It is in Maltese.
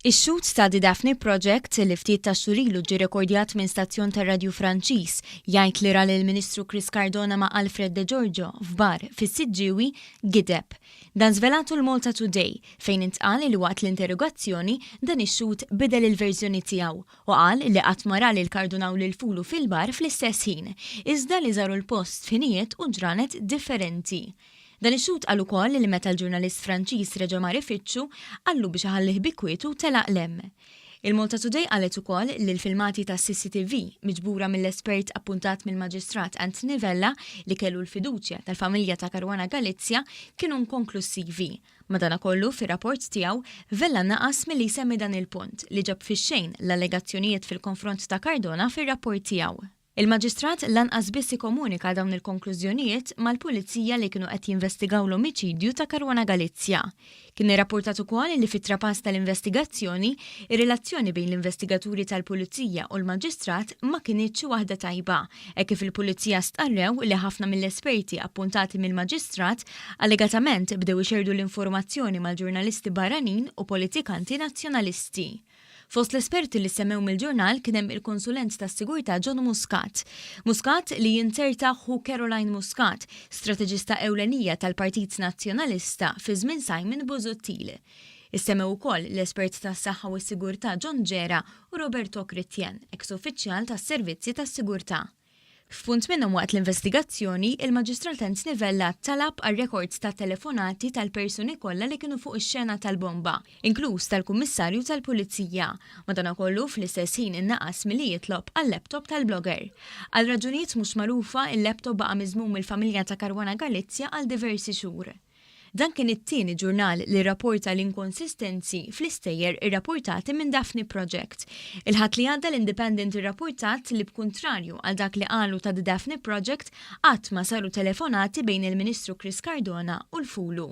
Ix-xut ta' The Daphne Project li ftit ta' xurilu ġi rekordjat minn stazzjon ta' radju Franċiż jgħid li ral il-Ministru Chris Cardona ma' Alfred De Giorgio f'bar fis-Siġġiewi gideb. Dan żvelatu l-Malta Today fejn intqal li waqt l-interrogazzjoni dan ix-xut bidel il-verżjoni tiegħu u qal li qatt ma ra li l-kardunaw lil fulu fil-bar fl-istess ħin, iżda li żaru l-post f'ħinijiet u ġranet differenti. Dan ix-xhud qal ukoll li meta l-ġurnalist Franċiż reġa' mar ifittxu, qallu biex iħallih bi kwietu u telaq 'l hemm. Il-MaltaToday qalet ukoll li l-filmati tas-CCTV, miġbura mill-espert appuntat mill-Maġistrat Anthony Vella li kellu l-fiduċja tal-familja ta' Caruana Galizia, kienu inkonklussivi. Madanakollu, fir-rapport tiegħu, Vella naqas milli jsemmi dan il-punt, li ġab fix-xejn l-allegazzjonijiet fil-konfront ta' Cardona fir-rapport tiegħu. Il-Maġistrat lanqas biss ikomunika dawn il-konklużjonijiet mal-Pulizija li kienu qed jinvestigaw l-omiċidju ta' Caruana Galizia. Kien irrappurtat ukoll li fit-trapass tal-investigazzjoni, ir-relazzjoni bejn l-investigaturi tal-Pulizija u l-Maġistrat ma kinitx waħda tajba, hekk kif il-Pulizija stqarrew li ħafna mill-esperti appuntati mill-Maġistrat allegatament bdew ixerrdu l-informazzjoni mal-ġurnalisti barranin u politikanti Nazzjonalisti. Fost l-esperti li ssemmew mill-ġurnal kien hemm il-Konsulent tas-Sigurtà John Muscat. Muscat li jinterta ħu Caroline Muscat, strateġista ewlenija tal-Partit Nazzjonalista fi żmien Simon Busuttil. Issemmew ukoll l-espert tas-saħħa u s-sigurtà John Ġera u Roberto Chrétien, eks uffiċjal tas-servizzi tas-sigurtà. F'punt minnhom waqt l-investigazzjoni, il-Maġistrat Ernst Nivella talab għal rekords tat-telefonati tal-persuni kollha li kienu fuq ix-xena tal-bomba, inkluż tal-Kummissarju tal-Pulizija. Madankollu, fl-istess ħin innaqas milli jitlob għal-laptop tal-blogger. Għal raġunijiet mhux magħrufa, il-laptop baqa' miżmum mill-familja ta' Caruana Galizia għal diversi xhur. Dan kien it-tieni ġurnal li rrapporta l-inkonsistenzi fl-istejjer irrapportati minn Daphne Project. Il-Ħadd li għadda l-Independent irrapportat li b'kuntrarju għal dak li qalu ta' The Daphne Project, qatt ma saru telefonati bejn il-Ministru Chris Cardona u l-FULU.